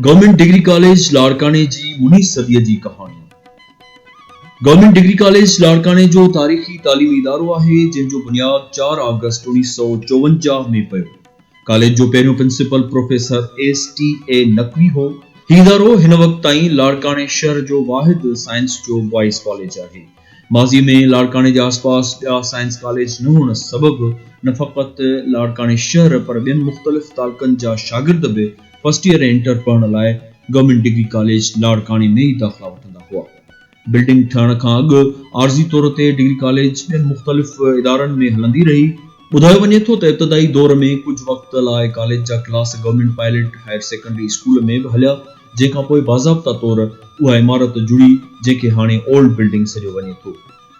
Government degree college Larkana جي منھين صديء جي ڪهاڻي گورنمينٽ ڊگري ڪاليج لاڙڪاڻي جو تاريخي تعليمي ادارو آهي، جنھن جو بنياد چار آگسٽ اوڻيھ سؤ چوونجاھ ۾ پيو. ڪاليج جو پهريون principal professor S T A Naqvi هو. هي ادارو هن وقت تائين لاڙڪاڻي شهر جو واحد سائنس جو بوائز ڪاليج آهي. ماضي ۾ لاڙڪاڻي جي آسپاس ٻيا سائنس ڪاليج نه هئڻ سبب نه فقط لاڙڪاڻي شهر پر ٻين مختلف تعلقن جا شاگرد به فرسٽ ايئر ۽ انٽر پڙهڻ لاء گورنمينٽ ڊگري ڪاليج لاڙڪاڻي ۾ ئي داخلا وٺندا هئا. بلڊنگ ٺهڻ کان اڳ عارضي طور تي ڊگري ڪاليج ٻين مختلف ادارن ۾ هلندي رهي. ٻڌايو وڃي ٿو ته ابتدائي دور ۾ ڪجهه وقت لاء ڪاليج جا class government pilot higher secondary school ۾ به هليا جنهن کان پوء باضابطا طور اها عمارت جڙي جنهن کي هاڻي اولڊ بلڊنگ سڏيو وڃي ٿو.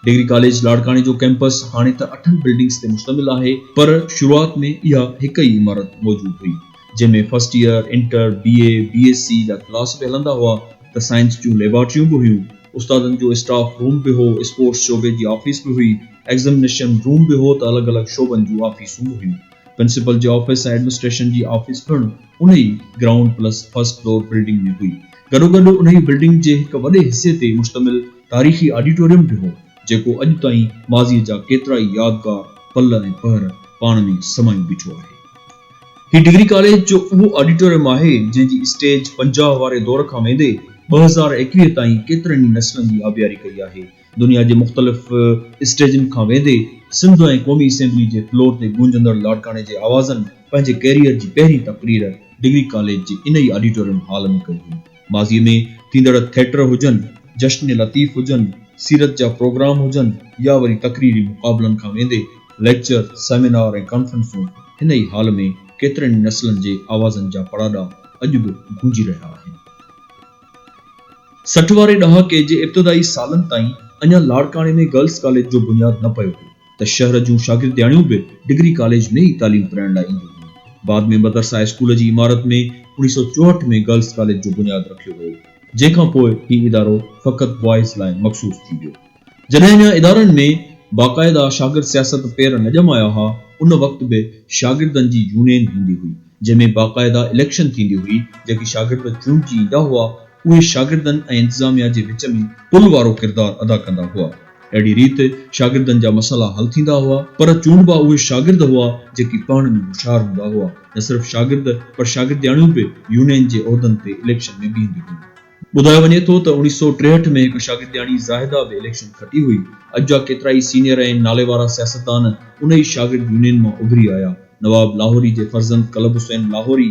ڊگري ڪاليج لاڙڪاڻي جو ڪيمپس هاڻي ته اٺن بلڊنگز تي مشتمل آهي پر شروعات ۾ اها هڪ ئي عمارت موجود هئي. جنهن ۾ first year, inter, B A, B S C جا ڪلاس به هلندا هئا ته سائنس جون ليبارٽريون به هيون، استادن جو اسٽاف روم به هو، اسپورٽس شعبي جي آفيس به هئي، ايگزمنيشن روم به هو ته الڳ الڳ شعبن جون آفيسون به هيون. پرنسپل جي آفيس ۽ ايڊمنسٽريشن جي آفيس پڻ ان ئي ground plus first floor building ۾ هئي. گڏوگڏ ان ئي بلڊنگ جي هڪ وڏي حصي تي مشتمل تاريخي آڊيٽوريم به هو، جيڪو اڄ تائين ماضيء جا ڪيترائي يادگار پل ۽ پهر پاڻ ۾ سمائي بيٺو آهي. هي ڊگري ڪاليج جو اهو آڊيٽوريم آهي، جنهن جي اسٽيج پنجاهه واري دور کان ويندي ٻه هزار ايڪويهه تائين ڪيترن ئي نسلن جي آبياري ڪئي آهي. دنيا جي مختلف اسٽيجن کان ويندي سنڌ ۽ قومي اسيمبلي جي فلور تي گونجندڙ لاڙڪاڻي جي آوازن پنهنجي ڪيريئر جي پهرين تقرير ڊگري ڪاليج جي ان ئي آڊيٽوريم هال ۾ ڪئي هئي. ماضيء ۾ ٿيندڙ ٿيٽر هجن، جشن لطيف هجن، سيرت جا پروگرام هجن يا وري تقريري مقابلن کان ويندي ليڪچر، سيمينار ۽ ڪانفرنسون هن ئي هال ۾ ڪيترن ئي نسلن جي آوازن جا پڙاڏا اڄ به گونجي رهيا آهن. سٺ واري ڏهاڪي جي ابتدائي سالن تائين اڃا لاڙڪاڻي ۾ گرلس ڪاليج جو بنياد نه پيو هو. ته شهر جون شاگردياڻيون به ڊگري ڪاليج ۾ ئي تعليم پرائڻ لاء اينديون هيون. بعد ۾ مدرسه هاء اسڪول جي عمارت ۾ اوڻيهه سؤ چوهٺ ۾ گرلس ڪاليج جو بنياد رکيو ويو، جنهن کان پوء هي ادارو فقط بوائز لاء مخصوص ٿي ويو. جڏهن اڃا ادارن ۾ باقاعده شاگرد سياست پير نه ڄمايا ها، ان وقت به شاگردن جي يونين هوندي هئي، جنهن ۾ باقاعده اليڪشن ٿيندي هئي، جيڪي شاگرد چونڊجي ايندا هئا، اهي شاگردن ۽ انتظاميا جي وچ ۾ پل وارو ڪردار ادا ڪندا هئا. اهڙي ريت شاگردن جا مسئلا حل ٿيندا هئا، پر چونڊبا اهي شاگرد هئا جيڪي پاڻ ۾ هوشيار هوندا هئا. نه صرف شاگرد پر شاگردياڻيون به يونين جي عهدن تي اليڪشن ۾ بيهنديون هيون. ٻڌايو وڃي ٿو ته اوڻيهه سؤ ٽيهٺ ۾ هڪ شاگردياڻي زاهده به اليڪشن کٽي هئي. اڄ جا ڪيترائي سينيئر ۽ ناليوارا سياستدان ان ئي شاگرد يونين مان اڀري آيا. نواب لاهوري جي فرزند قلب حسين لاهوري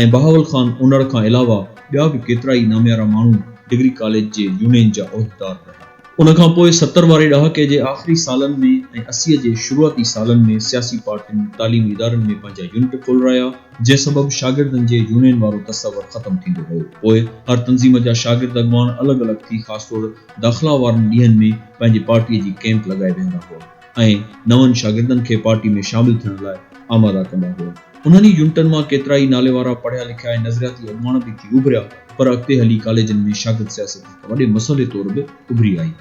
۽ بهاول خان انڙ کان علاوه ٻيا به ڪيترا ئي ناميارا ماڻهو ڊگري ڪاليج جي يونين جا عهديدار رهيا. ان کان پوء ستر واري ڏهاڪي جي آخري سالن ۾ ۽ اسي جي شروعاتي سالن ۾ سياسي پارٽين تعليمي ادارن ۾ پنهنجا يونٽ کولرايا، جنهن سبب شاگردن جي يونين وارو تصور ختم ٿيندو ويو. پوء هر تنظيم جا شاگرد اڳواڻ الڳ الڳ ٿي خاص طور داخلا وارن ڏينهن ۾ پنهنجي پارٽيء جي ڪيمپ لڳائي ويهندا هئا. ۽ نون شاگردن کي پارٽي ۾ شامل ٿيڻ لاء آماده ڪندا هئا. انهن ئي يونٽن مان ڪيترائي ناليوارا پڙهيا لکيا ۽ نظرياتي اڳواڻ به ٿي اڀريا، پر اڳتي هلي ڪاليجن ۾ شاگرد سياست هڪ وڏي مسئلي طور به اڀري آئي.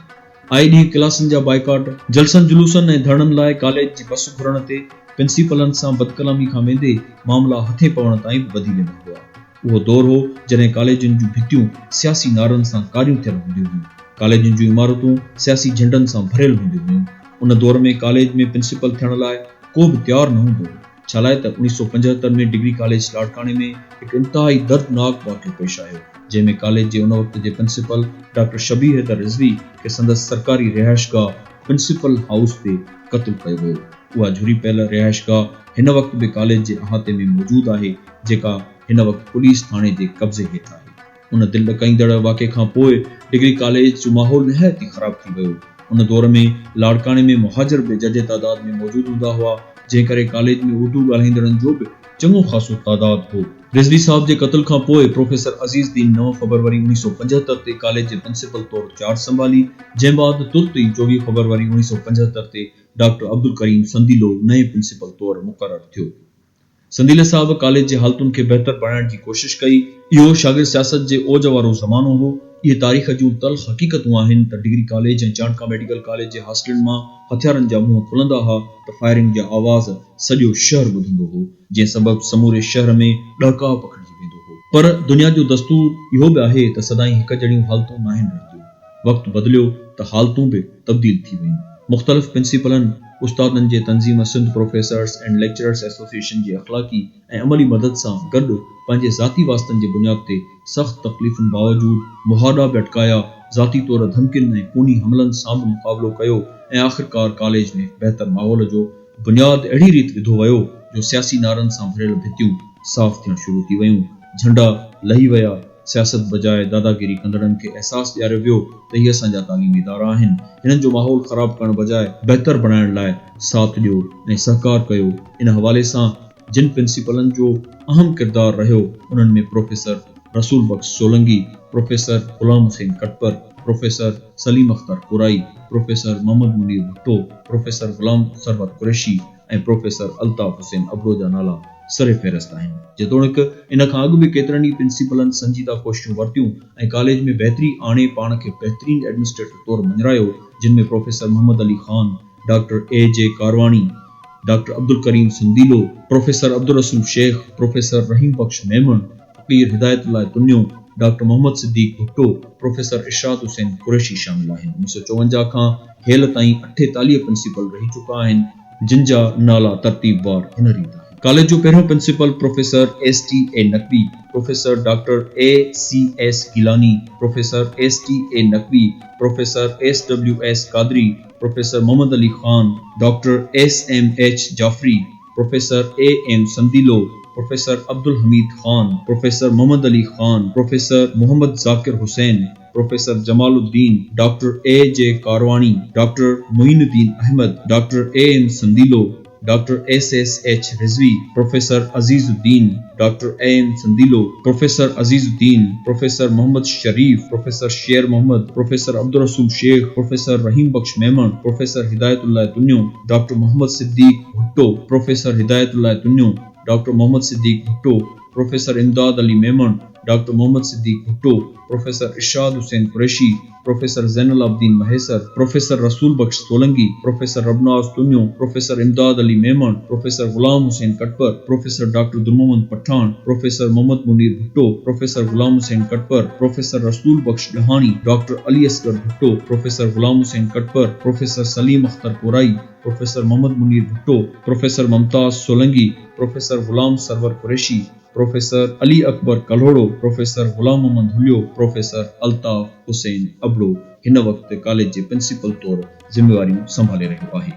آئي ڏينهن ڪلاسن جا بائيڪاٽ، جلسن جلوسن ۽ ڌرڻن لاء ڪاليج جي بس گهرڻ تي پنسيپلن سان بدڪلامي کان ويندي معاملا هٿين پوڻ تائين به وڌي ويندا هئا. اهو دور هو جڏهن ڪاليجن جون ڀتيون سياسي نعرن سان ڪاريون ٿيل هونديون هيون. ڪاليجن جون عمارتون سياسي جهنڊن سان ڀريل هونديون هيون. ان دور ۾ ڪاليج ۾ پرنسپل ٿيڻ لاء ڪو به تيار نه هوندو هو. ڇالاء ته اوڻيهه سؤ پنجهتر ۾ ڊگري ڪاليج لاڙڪاڻي ۾ هڪ انتهائي دردناڪ واقعو پيش آيو جنهن ۾ ڪاليج جي ان وقت جي پرنسپل ڊاڪٽر شبير حيدر رضوي کي سندس سرڪاري رهائشگاهه پرنسپل هائوس تي قتل ڪيو ويو. اها جهري پيل رهائشگاهه هن وقت به ڪاليج جي احاطي ۾ موجود آهي. جيڪا هن وقت پوليس ٿاڻي جي قبضي هيٺ آهي. ان دل ڏڪائيندڙ واقعي کان پوء ڊگري ڪاليج جو ماحول نهايت ئي خراب ٿي ويو. ان دور ۾ لاڙڪاڻي ۾ مهاجر به ججهي تعداد ۾ موجود هوندا هئا، جنهن ڪري ڪاليج ۾ اردو ڳالهائيندڙن جو به چڱو خاصو تعداد هو. رضوي صاحب جي قتل کان پوء پروفيسر عزيز دين نو فبروري اڻويهه سؤ پنجهتر تي ڪاليج جي پرنسپل طور چارج سنڀالي، جنهن بعد ترت ئي چوويهه فبروري اڻويهه سؤ پنجهتر تي ڊاڪٽر عبدالڪريم سنديلو نئين پرنسپل طور مقرر ٿيو. سنديلي صاحب ڪاليج جي حالتن کي بهتر بڻائڻ جي ڪوشش ڪئي. اهو شاگرد سياست جي اوج وارو زمانو هو. اهي تاريخ جون تلخ حقيقتون آهن ته degree college ۽ Chandka medical college جي هاسٽلن مان هٿيارن جا منهن کلندا ها ته فائرنگ جا آواز سڄو شهر ٻڌندو هو جنهن سبب سموري شهر ۾ ڏهڪاء پکڙجي ويندو هو. پر دنيا جو دستور اهو به آهي ته سدائين هڪجهڙيون حالتون ناهن رهنديون. وقت بدليو ته حالتون به تبديل ٿي ويون. مختلف پرنسپلن، استادن جي تنظيم Sindh professors and lecturers association جي اخلاقي ۽ عملي مدد سان گڏ پنهنجي ذاتي واسطن جي بنياد تي سخت تڪليفن باوجود مهاڏا به اٽڪايا، ذاتي طور ڌمڪين ۽ خوني حملن سان به مقابلو ڪيو ۽ آخرڪار ڪاليج ۾ بهتر ماحول جو بنياد اهڙي ريت وڌو ويو جو سياسي نعرن سان ڀريل ڀتيون صاف ٿيڻ شروع ٿي ويون، جهنڊا لهي ويا. سياست بجاء داداگيري ڪندڙن کي احساس ڏياريو ويو ته هي اسان جا تعليمي ادارا آهن، هنن جو ماحول خراب ڪرڻ بجاء بهتر بڻائڻ لاء ساٿ ڏيو ۽ سهڪار ڪيو، ان حوالي سان جن پرنسپلن جو اهم ڪردار رهيو انهن ۾ professor Rasool Bux Solangi, professor Ghulam Hussain Khatpar, professor Saleem Akhtar Korai, professor Muhammad Munir Bhutto, professor Ghulam Sarwar Qureshi, ۽ professor Altaf Hussain Abro جا نالا سرفهرست آهن. جيتوڻيڪ ان کان اڳ به ڪيترن ئي پرنسپلن سنجيده ڪوششون ورتيون ۽ ڪاليج ۾ بهتري آڻي پاڻ کي بهترين ايڊمنسٽريٽر طور مڃرايو جن ۾ professor Muhammad Ali Khan, doctor A G Karwani, doctor Abdul Karim Sandilo, professor Abdul Rasool Shaikh, professor Rahim Bux Memon, Faqir Hidayat Ullah Tunio, doctor Muhammad Siddique Bhutto, professor Irshad Hussain Qureshi شامل آهن. انيس سؤ چوونجاهه کان هيل تائين اٺيتاليهه پرنسپل رهي چڪا آهن، جن جا نالا ترتيبوار هن ريت آهن. ڪاليج جو پهريون principal professor S T A Naqvi, professor doctor A C S Gilani, professor S T A Naqvi, professor S W S Qadri, professor Muhammad Ali Khan, doctor S M H Jafri, professor A M Sandilo, professor Abdul Hameed Khan, professor Muhammad Ali Khan, professor Muhammad Zakir Hussain, professor Jamal Uddin, doctor A G Karwani, doctor Moin Uddin Ahmed, doctor A M Sandilo, doctor S S H Rizvi, professor Aziz Uddin, doctor A M Sandilo, professor Aziz Uddin, professor Muhammad Sharif, professor Sher Muhammad, professor Abdul Rasool Shaikh, professor Rahim Bux Memon, professor Hidayat Ullah Tunio, doctor Muhammad Siddique Bhutto, professor Hidayat Ullah Tunio, doctor Muhammad Siddique Bhutto, professor Imdad Ali Memon, doctor Muhammad Siddique Bhutto, professor Irshad Hussain Qureshi, professor Zain ul Abideen Mahesar, professor Rasool Bux Solangi, professor Rabnawaz Tunio, professor Imdad Ali Memon, professor Ghulam Hussain Katpar, professor doctor Dur Muhammad Pathan, professor Muhammad Munir Bhutto, professor Ghulam Hussain Katpar, professor Rasool Bux, Dahani, doctor Ali Asghar Bhutto, professor Ghulam Hussain Katpar, professor Saleem Akhtar Korai, professor Muhammad Munir Bhutto, professor Mumtaz Solangi, professor Ghulam Sarwar Qureshi, professor Ali Akbar Kalhoro, professor Ghulam Muhammad Halio, professor Altaf Hussain Abro هن وقت college جي principal طور ذميواريون سنڀالي رهيو آهي.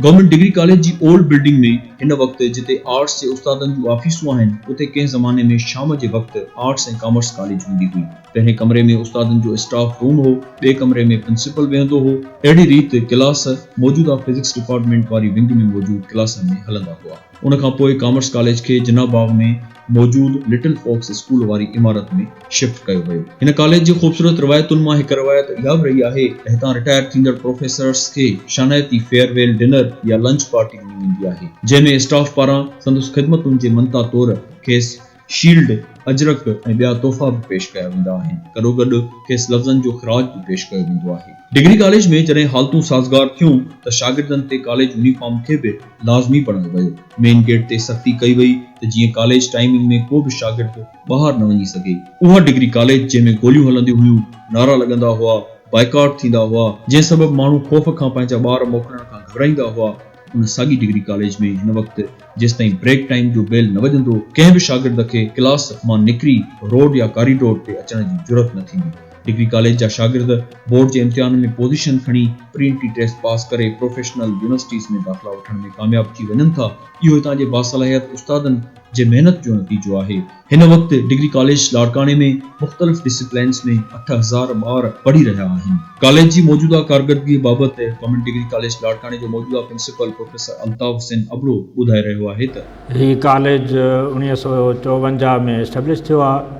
Government degree college جي old building ۾ هن وقت جتي آرٽس جي استادن جون آفيسون آهن اتي ڪنهن زماني ۾ شام جي وقت آرٽس ۽ ڪامرس ڪاليج هوندي هئي. پهرين ڪمري ۾ استادن جو اسٽاف روم هو، ٻئي ڪمري ۾ پرنسپل ويهندو هو. اهڙي ريت ڪلاس موجوده فزڪس ڊپارٽمينٽ واري ونگ ۾ موجود ڪلاسن ۾ هلندا هئا. ان کان پوء ڪامرس ڪاليج کي جناح باغ ۾ موجود لٽل فوڪس اسڪول واري عمارت ۾ شفٽ ڪيو ويو. هن ڪاليج جي خوبصورت روايتن مان هڪ روايت اها به رهي آهي ته هتان رٽائر ٿيندڙ پروفيسرس کي شانائتي فيئر ويل ڊنر يا لنچ پارٽي ڏني ويندي آهي جنهن ۾ اسٽاف پاران سندس خدمتن جي منتا طور کيس شيلڊ، اجرڪ ۽ ٻيا تحفا به پيش ڪيا ويندا آهن. گڏوگڏ کيس لفظن جو خراج به پيش ڪيو ويندو آهي. ڊگري ڪاليج ۾ جڏهن حالتون سازگار ٿيون ته شاگردن تي ڪاليج يونيفارم کي به لازمي بڻايو ويو. مين گيٽ تي سختي ڪئي وئي ته جيئن ڪاليج ٽائمنگ ۾ ڪو به شاگرد ٻاهر نه وڃي سگهي. اها ڊگري ڪاليج جنهن ۾ گوليون هلنديون هيون، نعرا لڳندا هئا، بائيڪاٽ ٿيندا هئا، جنهن سبب ماڻهو خوف کان پنهنجا ٻار موڪلڻ کان گهٻرائيندا هئا، ان ساڳي ڊگري ڪاليج ۾ هن وقت جيستائين بريڪ ٽائيم جو بيل نه وڄندو، ڪنهن به شاگرد کي ڪلاس مان نڪري روڊ يا ڪاريڊور تي اچڻ جي جرئت نه ٿيندي. ڊگري ڪاليج جا شاگرد بورڊ جي امتحان ۾ پوزيشن کڻي پرينٽي ٽيسٽ پاس ڪري پروفيشنل يونيورسٽيز ۾ داخلا وٺڻ ۾ ڪامياب ٿي وڃن ٿا، اهو هتان جي باصلاحيت استادن جي محنت جو نتيجو آهي. هن وقت ڊگري ڪاليج لاڙڪاڻي ۾ مختلف ڊسپلينز ۾ اٺ هزار ٻار پڙهي رهيا آهن. ڪاليج جي موجوده ڪارڪردگي بابت گورنمينٽ ڊگري ڪاليج لاڙڪاڻي جو موجوده پرنسپل پروفيسر الطاف حسين ابڙو ٻڌائي رهيو آهي ته. هي ڪاليج اوڻيهه سؤ چوونجاهه ۾ اسٽيبلش ٿيو آهي.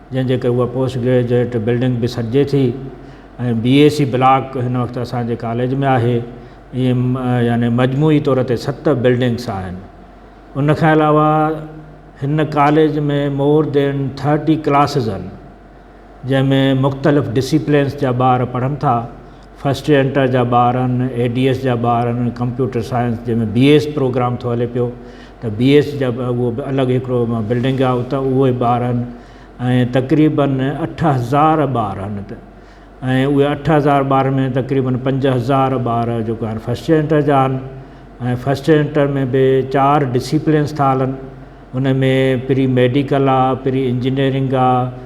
جنهن جي ڪري اها پوسٽ گريجوئيٽ بلڊنگ به سڏجي ٿي ۽ بي اي سي بلاڪ هن وقت اسان جي ڪاليج ۾ آهي ائين يعني مجموعي طور تي ست بلڊنگس آهن ان کان علاوه هن college ۾ more than thirty classes آهن جنهن ۾ مختلف ڊسيپلينس جا ٻار پڙهن ٿا فرسٽ انٽر جا ٻار آهن، اي ڊي ايس جا ٻار آهن، ڪمپيوٽر سائنس جنهن ۾ بي ايس پروگرام ٿو هلي پيو ته بي ايس جا اهو به الڳ هڪڙو بلڊنگ آهي اتان اهي ٻار آهن ۽ تقريبن اٺ هزار ٻار آهن اتي ۽ اهي اٺ هزار ٻارن ۾ تقريبن پنج هزار ٻار جيڪو آهن فرسٽ انٽر جا آهن ۽ فرسٽ انٽر ۾ به چار ڊسيپلنس ٿا هلن ان ۾ پري ميڊيڪل آهي پري انجنيئرنگ آهي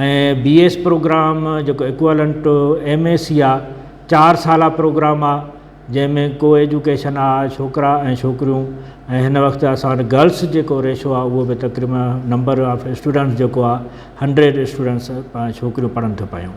۽ بي ايس پروگرام جيڪو equivalent to M S C آ چار سالا پروگرام آ جنهن ۾ ڪو ايجوڪيشن آ ڇوڪرا ۽ ڇوڪريون ۽ هن وقت اسان وٽ گرلس جيڪو ريشو آ اهو به تقريبن نمبر آف اسٽوڊنٽس جيڪو آ هنڊريڊ اسٽوڊنٽس ڇوڪريون پڙهن ٿيون پيون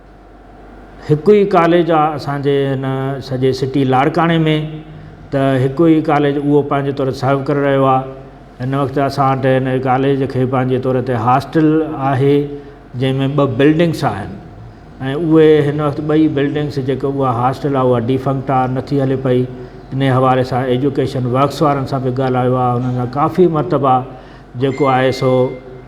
هڪ ئي ڪاليج آ اسان جي هن سڄي سٽي لاڙڪاڻي ۾ ته هڪ ئي ڪاليج اهو پنهنجي طور سرو ڪري رهيو آ هن وقت اسان وٽ هن ڪاليج کي پنهنجي طور تي هاسٽل آهي جنهن ۾ ٻه بلڊنگس آهن ۽ اهي هن وقت ٻئي بلڊنگس جيڪي اها هاسٽل آ اها ڊيفنڪٽ آ نٿي هلي پئي ان حوالي سان ايجوڪيشن ورڪس وارن سان به ڳالهايو آ هنن سان ڪافي مرتبا جيڪو آهي سو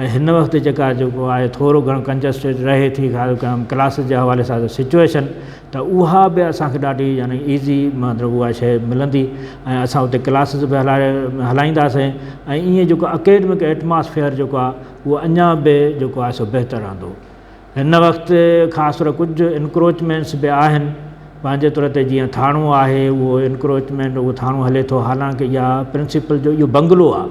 ۽ هن وقت جيڪا جيڪو آهي ٿورو گهڻو ڪنجسٽيڊ رهي ٿي ڪلاسز جي حوالي سان سچوئيشن ته اها به اسان کي ڏاڍي يعني ايزي مطلب اها شيء ملندي ۽ اسان اتي ڪلاسز به هلائي هلائينداسين ۽ ائين جيڪو اڪيڊمڪ ايٽماسفيئر جيڪو آهي اهو اڃا به جيڪو آهي سو بهتر رهندو هن وقت خاص طور ڪجهه انڪروچمينٽس به آهن پنهنجي طور تي جيئن ٿاڻو آهي اهو انڪروچمينٽ اهو ٿاڻو هلي ٿو حالانڪه اها پرنسپل جو اهو بنگلو آهي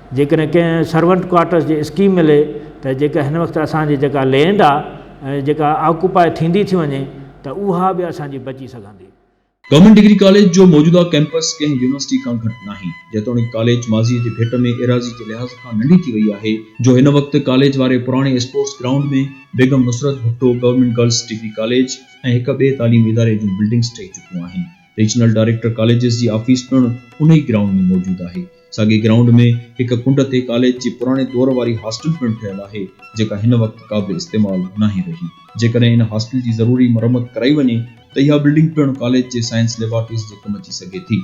جيڪڏهن ڪنهن سرونٽ ڪوارٽرس جي اسڪيم ملي ته جيڪا هن وقت اسان جي جيڪا لينڊ آ جيڪا آڪوپاء ٿيندي ٿي وڃي ته اها به اسان جي بچي سگهندي. گورنمينٽ ڊگري ڪاليج جو موجوده ڪيمپس ڪنهن يونيورسٽي کان گهٽ ناهي، جيتوڻيڪ ڪاليج ماضيء جي ڀيٽ ۾ ايراضي جي لحاظ کان ننڍي ٿي وئي آهي، جو هن وقت ڪاليج واري پراڻي sports ground ۾ Begum Nusrat Bhutto government girls degree college ۽ هڪ ٻئي تعليمي اداري جون بلڊنگس ٺهي چڪيون آهن. ريجنل ڊائريڪٽر ڪاليجز جي آفيس پڻ انهي گرائونڊ ۾ موجود آهي. ساڳي گرائونڊ ۾ هڪ ڪنڊ تي ڪاليج جي پراڻي دور واري هاسٽل پڻ ٺهيل آهي، جيڪا هن وقت قابل استعمال ناهي رهي. جيڪڏهن ان هاسٽل جي ضروري مرمت ڪرائي وڃي ته اها بلڊنگ پڻ ڪاليج جي سائنس ليبارٽريز جي ڪم اچي سگهي ٿي.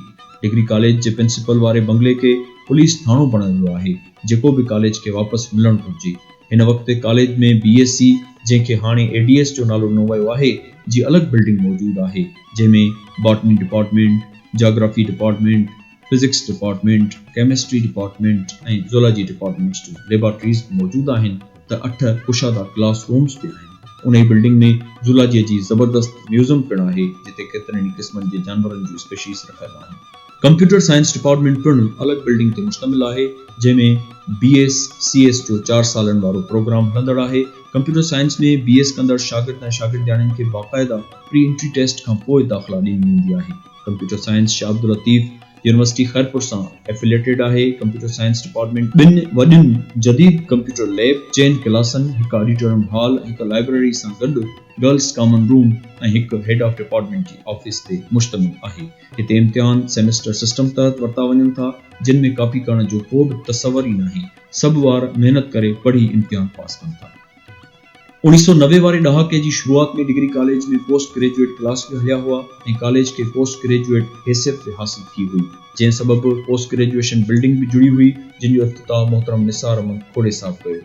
ڊگري ڪاليج جي پرنسپل واري بنگلي کي پوليس ٿاڻو بڻايو ويو آهي، جيڪو به ڪاليج کي واپس ملڻ گهرجي. هن وقت ڪاليج ۾ بي ايس سي، جنهن کي هاڻي اي ڊي ايس جو نالو ڏنو ويو آهي، جي الڳ بلڊنگ موجود آهي. جنهن ۾ botany department, geography department, physics department, chemistry department ۽ zoology departments جون ليبارٽريز به موجود آهن ته اٺ ڪشادا ڪلاس رومز به آهن. انهي بلڊنگ ۾ زولاجيء جي زبردست ميوزم پڻ آهي جتي ڪيترن ئي قسمن جي جانورن جون اسپيشيز رکيل آهن. ڪمپيوٽر سائنس ڊپارٽمينٽ پڻ الڳ بلڊنگ تي مشتمل آهي، جنهن ۾ بي ايس سي ايس جو چار سالن وارو پروگرام هلندڙ آهي. ڪمپيوٽر سائنس ۾ بي ايس ڪندڙ شاگرد ۽ شاگردياڻين کي باقاعده پري انٽري ٽيسٽ کان پوء داخلا ڏني ويندي آهي. Computer science Shah Abdul Latif university Khairpur سان ائفليئيٽيڊ آهي. ڪمپيوٽر سائنس ڊپارٽمينٽ ٻن وڏين جديد ڪمپيوٽر ليب، چئن ڪلاسن، هڪ آڊيٽورم هال ۽ هڪ لائبريري سان گڏ گرلز ڪامن روم ۽ هڪ هيڊ آف ڊپارٽمينٽ جي آفيس تي مشتمل آهي. هتي امتحان سيمسٽر سسٽم تحت ورتا وڃن ٿا، جن ۾ ڪاپي ڪرڻ جو ڪو به تصور ئي ناهي، سڀ ٻار محنت ڪري پڙهي امتحان پاس ڪن ٿا. اوڻيهه سؤ نوي واري ڏهاڪي جي شروعات ۾ degree college ۾ post graduate class به هليا هئا ۽ ڪاليج کي پوسٽ گريجوئيٽ حيثيت به حاصل ٿي هئي، جنهن سبب پوسٽ گريجوئيشن بلڊنگ به جڙي هئي، جن جو افتتاح محترم نثار احمد کوڙي صاحب ڪيو.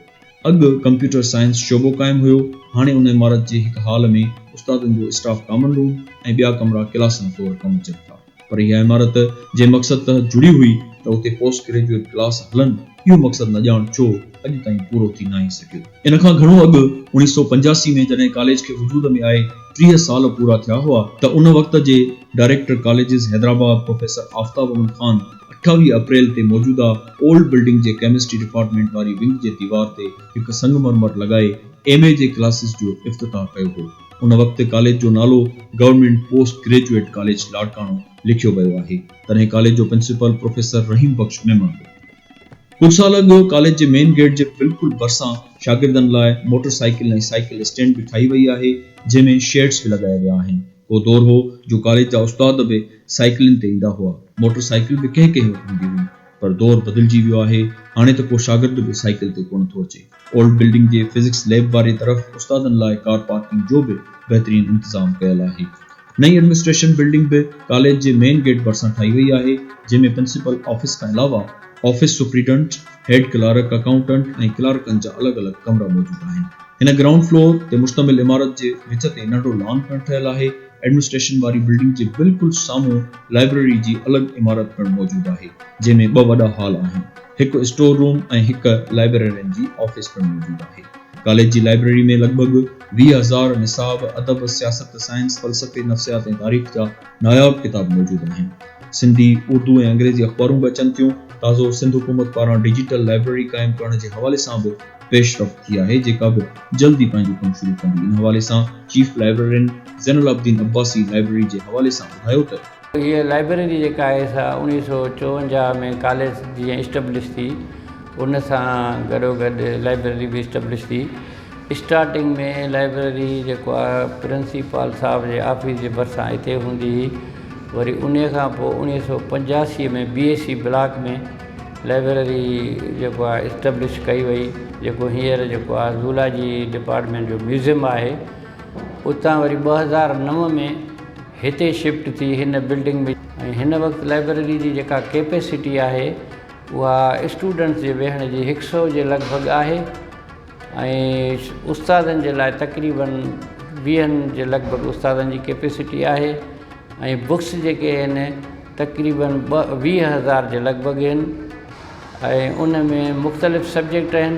اڳ ڪمپيوٽر سائنس شعبو قائم هيو، هاڻي ان عمارت جي هڪ هال ۾ استادن جو اسٽاف ڪامن روم ۽ ٻيا ڪمرا ڪلاسن طور ڪم اچن ٿا. پر اها عمارت جنهن مقصد تحت جڙي هئي ته اتي پوسٽ گريجوئيٽ ڪلاس هلن، اهو مقصد نه ڄاڻ ڇو اڄ تائين پورو ٿي ناهي سگهيو. ان کان گهڻو اڳ اوڻيهه سؤ پنجاسي ۾ جڏهن ڪاليج کي وجود ۾ آئي ٽيهه سال پورا ٿيا هئا ته ان وقت جي director colleges Hyderabad professor Aftab Ahmed Khan, اٺاويهه اپريل تي موجوده اولڊ بلڊنگ جي ڪيمسٽري ڊپارٽمينٽ واري ونگ جي ديوار تي هڪ سنگ مرمر لڳائي ايم اي جي ڪلاسز جو افتتاح ڪيو هو. ان وقت ڪاليج جو نالو government post graduate college Larkana لکيو ويو آهي. تڏهن ڪاليج جو پرنسپل پروفيسر رحيم بخش ميمڻ هو. ڪجهه سال اڳ ڪاليج جي مين گيٽ جي بلڪل ڀرسان شاگردن لاء موٽر سائيڪل ۽ سائيڪل اسٽينڊ به ٺاهي وئي آهي جنهن ۾ شيڊز به لڳايا ويا آهن. ڪو دور هو جو ڪاليج جا استاد به سائيڪلن تي ايندا هئا، موٽر سائيڪل به ڪنهن ڪنهن وٽ هوندي هئي، پر دور بدلجي ويو آهي، هاڻي ته ڪو شاگرد به سائيڪل تي ڪونه ٿو اچي. اولڊ بلڊنگ جي فزڪس ليب واري طرف استادن لاء ڪار پارڪنگ جو به بهترين انتظام ڪيل آهي. نئين ايڊمنسٽريشن بلڊنگ به ڪاليج جي مين گيٽ ڀرسان ٺاهي وئي آهي، جنهن ۾ پرنسپل آفيس کان علاوه office superintendent, head clerk, accountant ۽ ڪلارڪن جا الڳ الڳ ڪمرا موجود آهن. هن گرائونڊ فلور تي مشتمل عمارت جي وچ تي ننڍڙو لان پڻ ٺهيل آهي. ايڊمنسٽريشن واري بلڊنگ جي بلڪل سامهون لائبريري جي الڳ عمارت پڻ موجود آهي، جنهن ۾ ٻه وڏا هال آهن. هڪ اسٽور روم ۽ هڪ لائبريرين جي آفيس پڻ موجود آهي. ڪاليج جي لائبريري ۾ لڳ ڀڳ ويهه هزار نصاب، ادب، سياست، سائنس، فلسفي، نفسيات ۽ تاريخ جا ناياب ڪتاب موجود آهن. سنڌي، اردو ۽ انگريزي اخبارون به اچن ٿيون. تازو سنڌ حڪومت پاران ڊجيٽل لائبريري قائم ڪرڻ جي حوالي سان به پيش رفت ٿي آهي جيڪا به جلد ئي پنهنجو ڪم شروع ڪندي ان حوالي سان چيف لائبريرين زين العابدين عباسي لائبريري جي حوالي سان ٻڌايو ته. هيء لائبريري جيڪا آهي سا اوڻيهه سؤ چوونجاهه ۾ ڪاليج جيئن اسٽبلش ٿي ان سان گڏو گڏ لائبريري به اسٽبلش ٿي اسٽارٽنگ ۾ لائبريري جيڪو آهي پرنسيپال صاحب جي آفيس جي ڀرسان اتي هوندي هئي وري انهي کان پوء اوڻيهه سؤ پنجاسي ۾ B A C block ۾ library جيڪو آهي اسٽبلش ڪئي وئي جيڪو هينئر جيڪو آهي زولاجي ڊپارٽمينٽ جو ميوزيم آهي اتان وري ٻه هزار نو ۾ هتي شفٽ ٿي هن بلڊنگ ۾ ۽ هن وقت لئبرري جي جيڪا ڪيپيسٽي آهي اها اسٽوڊنٽس جي ويهڻ جي هڪ سئو جي لڳ ڀڳ آهي ۽ استادن جي لاء تقريبن ويهن جي لڳ ڀڳ استادن جي ڪيپيسٽي آهي ۽ بڪس جيڪي آهن تقريبن ٻه ويهه هزار جي لڳ ڀڳ آهن ۽ ان ۾ مختلف سبجيڪٽ آهن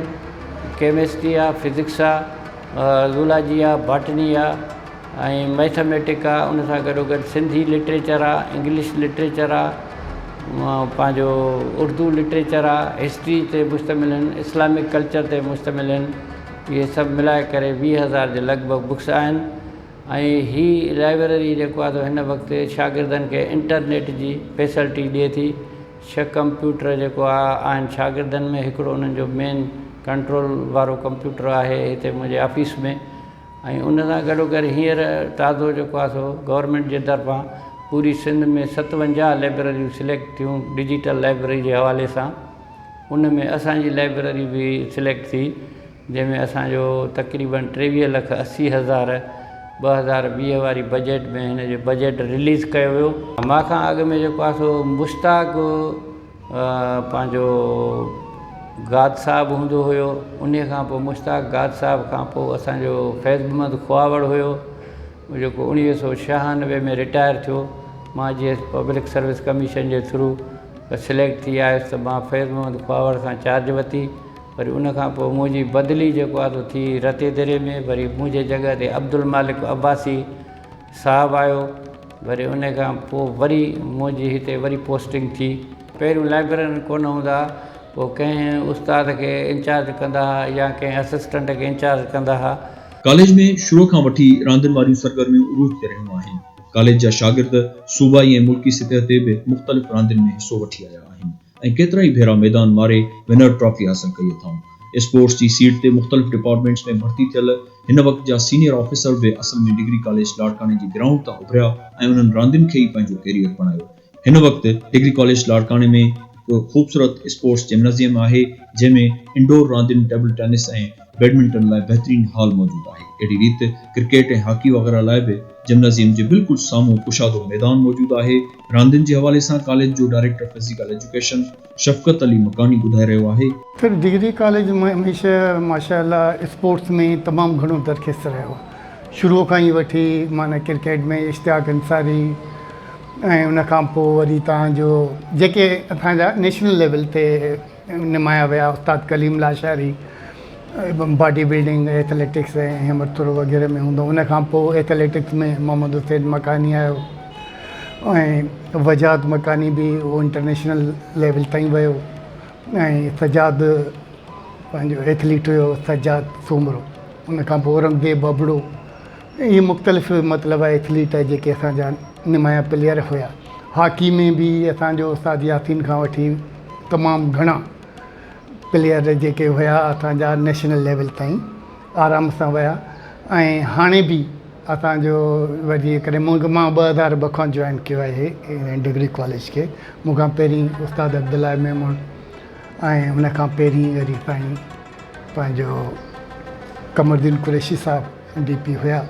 ڪيمسٽري آهي فزڪس آهي زولاجي آهي باٽني آهي ۽ مئٿميٽڪ آ ان سان گڏو گڏ سنڌي لٽريچر آ انگلش لٽريچر آ پنهنجو اردو لٽريچر آ هسٽري تي مشتمل آهن اسلامڪ ڪلچر تي مشتمل آهن اهي سڀ ملائي ڪري ويهه هزار جي لڳ ڀڳ بڪس آهن ۽ هي لائبرري جيڪو آ سو هن وقت شاگردن کي انٽرنيٽ جي فيسلٽي ڏئي ٿي ڇهه ڪمپيوٽر جيڪو آ آهن شاگردن ۾ هڪڙو انهن جو مين ڪنٽرول وارو ڪمپيوٽر آهي هتي منهنجي آفيس ۾ ۽ ان سان گڏو گڏ هينئر تازو جيڪو آهي سو گورنمينٽ جي طرفان پوري سنڌ ۾ ستونجاهه لائبريريون سليڪٽ ٿيون ڊجيٽل لائبريري جي حوالي سان ان ۾ اسانجي لائبريري به سليڪٽ ٿي جنهن ۾ اسانجو تقريباً ٽيويهه لک اسي هزار ٻه هزار ويهه واري بجيٽ ۾ هن جو بجيٽ رليز ڪيو ويو ماکان اڳ ۾ جيڪو آهي سو مشتاق پنهنجو گاد صاحب هوندو هيو ان کان پوء مشتاق گاد صاحب کان پوء اسانجو فيض محمد کهاوڙ هيو جيڪو اڻويهه سو ڇهانوي ۾ رٽائر ٿيو مون جي ايس پبلڪ سروس ڪميشن جي ٿرو سليڪٽ ٿي آيس ته مون فيض محمد کهاوڙ کان چارج ورتي وري ان کان پوء منهنجي بدلي جيڪو آهي سو ٿي رتيدري ۾ وري منهنجي جڳهه تي عبدالمالڪ عباسي صاحب آيو وري ان کان پوء وري منهنجي هتي وري پوسٽنگ ٿي پهريون لائبررين ڪونه هوندا هئا پوء ڪنهن استاد کي انچارج ڪندا هئا يا ڪنهن اسسٽنٽ کي انچارج ڪندا هئا. ڪاليج ۾ شروع کان وٺي راندين واريون سرگرميون عروج تي رهيون آهن. ڪاليج جا شاگرد صوبائي ۽ ملڪي سطح تي به مختلف راندين ۾ حصو وٺي آيا آهن. ۽ ڪيترائي ڀيرا ميدان ماري ونر ٽرافي حاصل ڪئي اٿائون. اسپورٽس جي سيٽ تي مختلف ڊپارٽمينٽس ۾ ڀرتي ٿيل هن وقت جا سينيئر آفيسر به اصل ۾ ڊگري ڪاليج لاڙڪاڻي جي گرائونڊ تان اڀريا ۽ انهن راندين کي ئي پنهنجو ڪيريئر بڻايو. هن وقت ڊگري ڪاليج لاڙڪاڻي ۾ هڪ خوبصورت اسپورٽس جمنازيم آهي جنهن ۾ انڊور راندين ٽيبل ٽينس ۽ بيڊمنٽن لاء بهترين هال موجود آهي، اهڙي ريت ڪرڪيٽ ۽ هاڪي وغيره لاء به جمنازيم جي بلڪل سامهون ڪشادو ميدان موجود آهي، راندين جي حوالي سان ڪاليج جو director physical education Shafqat Ali مڪاني ٻڌائي رهيو آهي. پڻ ڊگري ڪاليج هميشه ماشاء الله اسپورٽس ۾ تمام گهڻو درخست رهيو، شروع کان ئي وٺي معنيٰ ڪرڪيٽ ۾ اشتياق انصاري ۽ ان کان پوء وري تهان جو جيڪي اسان جا نيشنل ليول تي نمايا ويا استاد Kaleem Lashari body building athletics ۽ همت ٿرو وغيره ۾ هوندو ان کان پوء ايٿليٽڪس ۾ محمد حسين مڪاني آيو ۽ وجاهت مڪاني به هو انٽرنيشنل ليول تائين ويو ۽ سجاد پنهنجو ايٿليٽ هيو سجاد سومرو ان کان پوء اورنگزيب ابڙو ائين مختلف مطلب ايٿليٽ جيڪي اسان جا نمايان پليئر هيا هاڪي ۾ به اسان جو استاد ياسين کان وٺي تمام گهڻا پليئر جيڪي هيا اسان جا نيشنل ليول تائين آرام سان ويا ۽ هاڻي به اسان جو جي ڪڏهن مون کي مان ٻه هزار ٻه کان جوائن ڪيو آهي هن ڊگري ڪاليج کي مون کان پهرين استاد عبدالله ميمڻ ۽ ان کان پهرين وري سائين پنهنجو قمر الدين قريشي صاحب ڊي پي هيا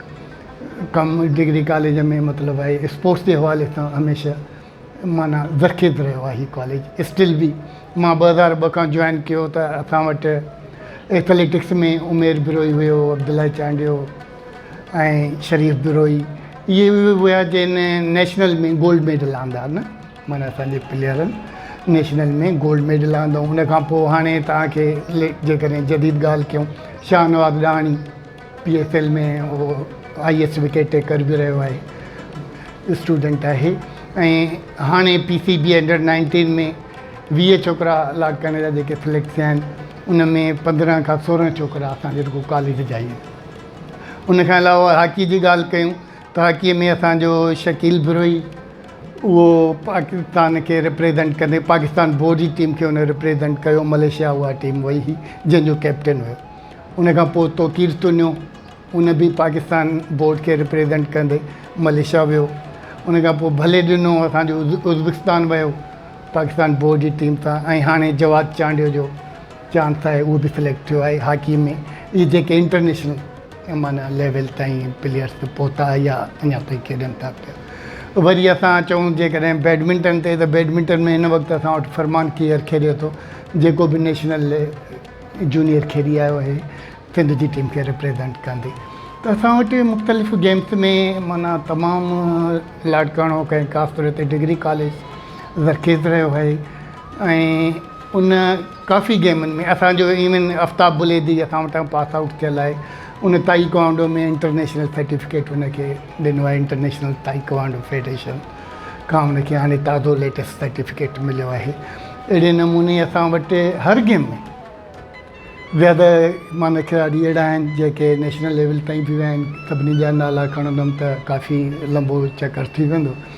ڪم ڊگري ڪاليج ۾ مطلب آهي اسپورٽس جي حوالي سان هميشه معنيٰ زرخيز رهيو آهي هي ڪاليج اسٽل بي مان ٻه هزار ٻه کان جوائن ڪيو ته اسان وٽ ايٿليٽڪس ۾ عمير بروهي هيو عبدالله چانڊيو ۽ شريف بروهي اهي هيا جن نيشنل ۾ گولڊ ميڊل آندا نه معنيٰ اسان جي پليئرن نيشنل ۾ گولڊ ميڊل آندو ان کان پوء هاڻي توهان کي جيڪڏهن جديد ڳالهه ڪيون Shahnawaz Dahani P S L ۾ اهو آئي ايس وڪيٽ ٽيڪر به رهيو آهي اسٽوڊنٽ آهي ۽ هاڻي P C B under nineteen ۾ ويهه ڇوڪرا الاٽ ڪرڻ جا جيڪي سليڪٽ ٿيا آهن ان ۾ پندرهن کان سورهن ڇوڪرا اسانجي رڳو ڪاليج جا آهن ان کان علاوه هاڪي جي ڳالهه ڪيون ته هاڪي ۾ اسانجو شڪيل بروهي اهو پاڪستان کي رپريزينٽ ڪندي پاڪستان بورڊ جي ٽيم کي هن رپريزينٽ ڪيو ملائيشيا اها ٽيم وئي هئي جنهن جو ڪئپٽن هيو ان کان پوء توقير تنيو ان به پاڪستان بورڊ کي رپريزينٽ ڪندي ملائيشيا ويو ان کان پوء ڀلي ڏنو اسان جو ازبڪستان ويو پاڪستان بورڊ جي ٽيم سان ۽ هاڻي جواد چانڊيو جو چانس آهي اهو به سليڪٽ ٿيو آهي هاڪي ۾ اهي جيڪي انٽرنيشنل ايم ان ليول تائين پليئرس ته پهتا يا اڃا تائين کيڏن ٿا پيا وري اسان چئون جيڪڏهن بيڊمنٽن تي ته بيڊمنٽن ۾ هن وقت اسان وٽ فرمان ڪيئر کيڏي ٿو جيڪو به نيشنل جونيئر کيڏي آيو آهي سنڌ جي ٽيم کي ريپريزنٽ ڪندي ته اسان وٽ مختلف گيمس ۾ معنيٰ تمام لاڙڪاڻو ڪنهن خاص طور تي ڊگري ڪاليج زرخيز رهيو آهي ۽ ان ڪافي گيمن ۾ اسان جو ايون افتاب بليدي اسان وٽان پاس آئوٽ ٿيل آهي ان تائي ڪواندو ۾ انٽرنيشنل سرٽيفڪيٽ ان کي ڏنو آهي انٽرنيشنل تائي ڪواندو فيڊريشن کان ان کي هاڻي تازو ليٽيسٽ سرٽيفڪيٽ مليو آهي اهڙي نموني اسان وٽ هر گيم ۾ زياده معنيٰ کلاڙي اهڙا آهن جيڪي نيشنل ليول تائين به ويا آهن سڀني جا نالا کڻندم ته ڪافي لمبو چڪر ٿي ويندو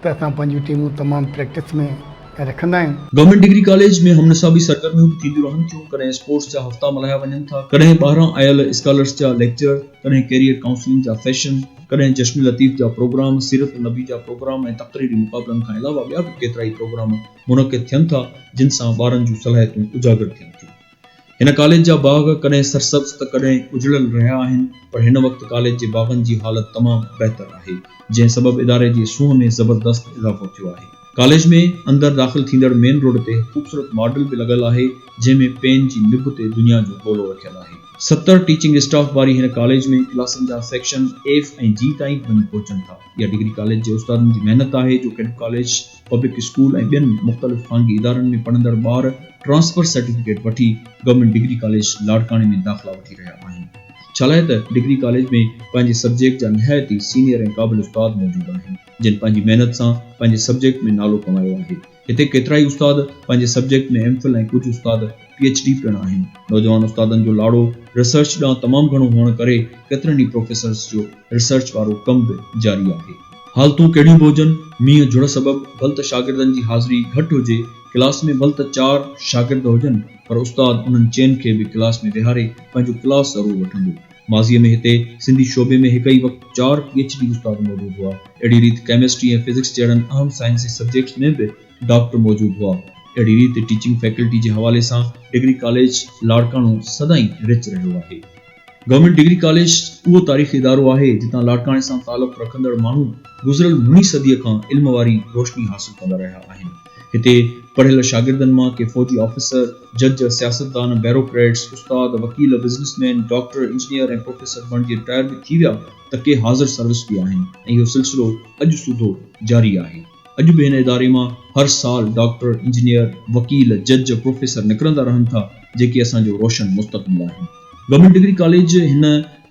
ته اسان پنهنجون ٽيمون تمام پريڪٽس ۾ رکندا آهيون. گورنمينٽ ڊگري ڪاليج ۾ هم نصابي سرگرميون به ٿينديون رهن ٿيون، ڪڏهن اسپورٽس جا هفتا ملهايا وڃن ٿا، ڪڏهن ٻاهران آيل اسڪالرس جا ليڪچر، ڪڏهن ڪيريئر ڪائونسلنگ جا سيشن، ڪڏهن جشن لطيف جا پروگرام، سيرت النبي جا پروگرام ۽ تقريري مقابلن کان علاوه ٻيا به ڪيترائي پروگرام منعقد ٿين ٿا، جن سان ٻارن جون صلاحيتون اجاگر ٿين ٿيون. هن ڪاليج جا باغ ڪڏهن سرسبز ته ڪڏهن اجڙيل رهيا آهن پر هن وقت ڪاليج جي باغن جي حالت تمام بهتر آهي جنهن سبب اداري جي سونهن ۾ زبردست اضافو ٿيو آهي. ڪاليج ۾ اندر داخل ٿيندڙ مين روڊ تي هڪ خوبصورت ماڊل به لڳل آهي جنهن ۾ پين جي نب تي دنيا جو گولو رکيل آهي. ستر ٽيچنگ اسٽاف واري هن ڪاليج ۾ ڪلاسن جا سيڪشن ايف ۽ جي تائين به وڃي پهچن ٿا. اها ڊگري ڪاليج جي استادن جي محنت آهي جو ڪيڏو ڪاليج. پبلڪ اسڪول ۽ ٻين مختلف خانگي ادارن ۾ پڙهندڙ ٻار ٽرانسفر سرٽيفڪيٽ وٺي گورنمينٽ ڊگري ڪاليج لاڙڪاڻي ۾ داخلا وٺي رهيا آهن ڇالاء ته ڊگري ڪاليج ۾ پنهنجي سبجيڪٽ جا نهايت ئي سينيئر ۽ قابل استاد موجود آهن جن پنهنجي محنت سان پنهنجي سبجيڪٽ ۾ نالو ڪمايو آهي هتي ڪيترائي استاد پنهنجي سبجيڪٽ ۾ ايم فل ۽ ڪجهه استاد پي ايڇ ڊي پڻ آهن. نوجوان استادن جو لاڙو ريسرچ ڏانهن تمام گهڻو هئڻ ڪري ڪيترن ئي پروفيسرز جو ريسرچ وارو ڪم به جاري آهي. حالتون ڪهڙيون به هجن، مينهن جھڙ سبب ڀل ته شاگردن جي حاضري گهٽ هجي، ڪلاس ۾ ڀل ته چار شاگرد هجن پر استاد انهن چئن کي به ڪلاس ۾ ويهاري پنهنجو ڪلاس ضرور وٺندو. ماضيء ۾ هتي سنڌي شعبي ۾ هڪ ئي وقت چار پي ايڇ ڊي استاد موجود هئا. اهڙي ريت ڪيمسٽري ۽ فزڪس جهڙن اهم سائنسي سبجيڪٽس ۾ به ڊاڪٽر موجود هئا. اهڙي ريت ٽيچنگ فيڪلٽي جي حوالي سان ڊگري ڪاليج لاڙڪاڻو سدائين رچ رهيو آهي. گورنمينٽ ڊگري ڪاليج اهو تاريخي ادارو آهي جتان لاڙڪاڻي سان تعلق رکندڙ ماڻهو گذريل مھين صديء کان علم واري روشني حاصل ڪندا رهيا آهن. هتي پڙهيل شاگردن مان ڪي فوجي آفيسر، جج، سياستدان، بيروڪريٽس، استاد، وڪيل، businessman, doctor, engineer ۽ professor بڻجي رٽائر به ٿي ويا ته ڪي حاضر سروس به آهن ۽ اهو سلسلو اڄ سوڌو جاري آهي. اڄ به هن اداري مان هر سال ڊاڪٽر، انجنيئر، وڪيل، جج، پروفيسر نڪرندا رهن ٿا، جيڪي اسان جو روشن مستقبل آهن. گورنمينٽ ڊگري ڪاليج هن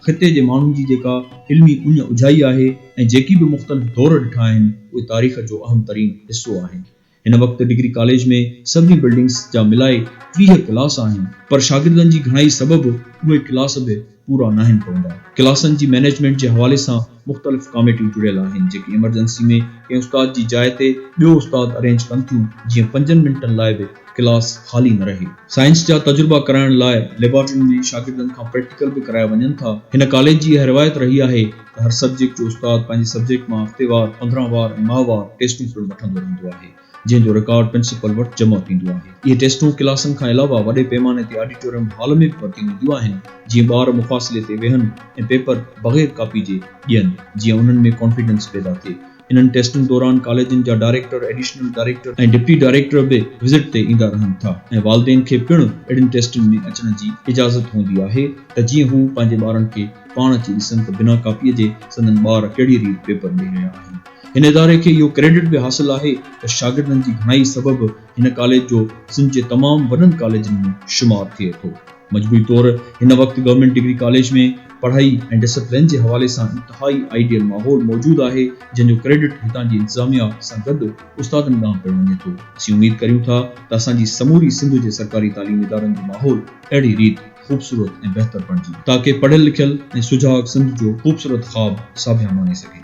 خطي جي ماڻهن جي جيڪا علمي اڃ اجهائي آهي ۽ جيڪي به مختلف دور ڏٺا آهن، اهي تاريخ جو اهم ترين حصو آهن. هن وقت ڊگري ڪاليج ۾ سڀني بلڊنگس جا ملائي ٽيهه ڪلاس آهن، پر شاگردن جي گهڻائي سبب اهي ڪلاس به. پورا ناهن پوندا. ڪلاسن جي مئنيجمينٽ جي حوالي سان مختلف ڪاميٽيون جڙيل آهن جيڪي ايمرجنسي ۾ ڪنهن استاد جي جاء تي ٻيو استاد ارينج ڪن ٿيون جيئن پنجن منٽن لاء به ڪلاس خالي نه رهي. سائنس جا تجربا ڪرائڻ لاء ليبارٽرين ۾ شاگردن کان پريڪٽيڪل به ڪرايا وڃن ٿا. هن ڪاليج جي اها روايت رهي آهي ته هر سبجيڪٽ جو استاد پنهنجي سبجيڪٽ مان هفتيوار، پندرهن وار ۽ ماهوار ٽيسٽون پڻ وٺندو رهندو آهي. جنهن جو رڪارڊ پرنسپل وٽ جمع ٿيندو آهي. اهي ٽيسٽون ڪلاسن کان علاوه وڏي پيماني تي آڊيٽوريم هال ۾ به ورتيون وينديون آهن، جيئن ٻار مفاصلي تي ويهن ۽ پيپر بغير ڪاپي جي ڏين، جيئن انهن ۾ ڪانفيڊنس پيدا ٿئي. انهن ٽيسٽن دوران ڪاليجن جا director, additional director ۽ deputy director به وزٽ تي ايندا رهن ٿا ۽ والدين کي پڻ اهڙين ٽيسٽن ۾ اچڻ جي اجازت هوندي آهي ته جيئن هو پنهنجي ٻارن کي پاڻ اچي ڏسن ته بنا ڪاپيء جي سندن ٻار ڪهڙيء ريت پيپر ڏئي رهيا آهن. هن اداري کي اهو ڪريڊٽ به حاصل آهي ته شاگردن جي گهڻائي سبب هن ڪاليج جو سنڌ جي تمام وڏن ڪاليجن ۾ شمار ٿئي ٿو. مجموعي طور هن وقت گورنمينٽ ڊگري ڪاليج ۾ پڙهائي ۽ ڊسپلين جي حوالي سان انتهائي آئيڊيل ماحول موجود آهي، جنهن جو ڪريڊٽ هتان جي انتظاميا سان گڏ استادن ڏانهن پڻ وڃي ٿو. اسين اميد ڪريون ٿا ته اسان جي سموري سنڌ جي سرڪاري تعليمي ادارن جو ماحول اهڙي ريت خوبصورت ۽ بهتر بڻجي تاڪه پڙهيل لکيل ۽ سجاڳ سنڌ جو خوبصورت خواب ساڀيان ماني سگهي.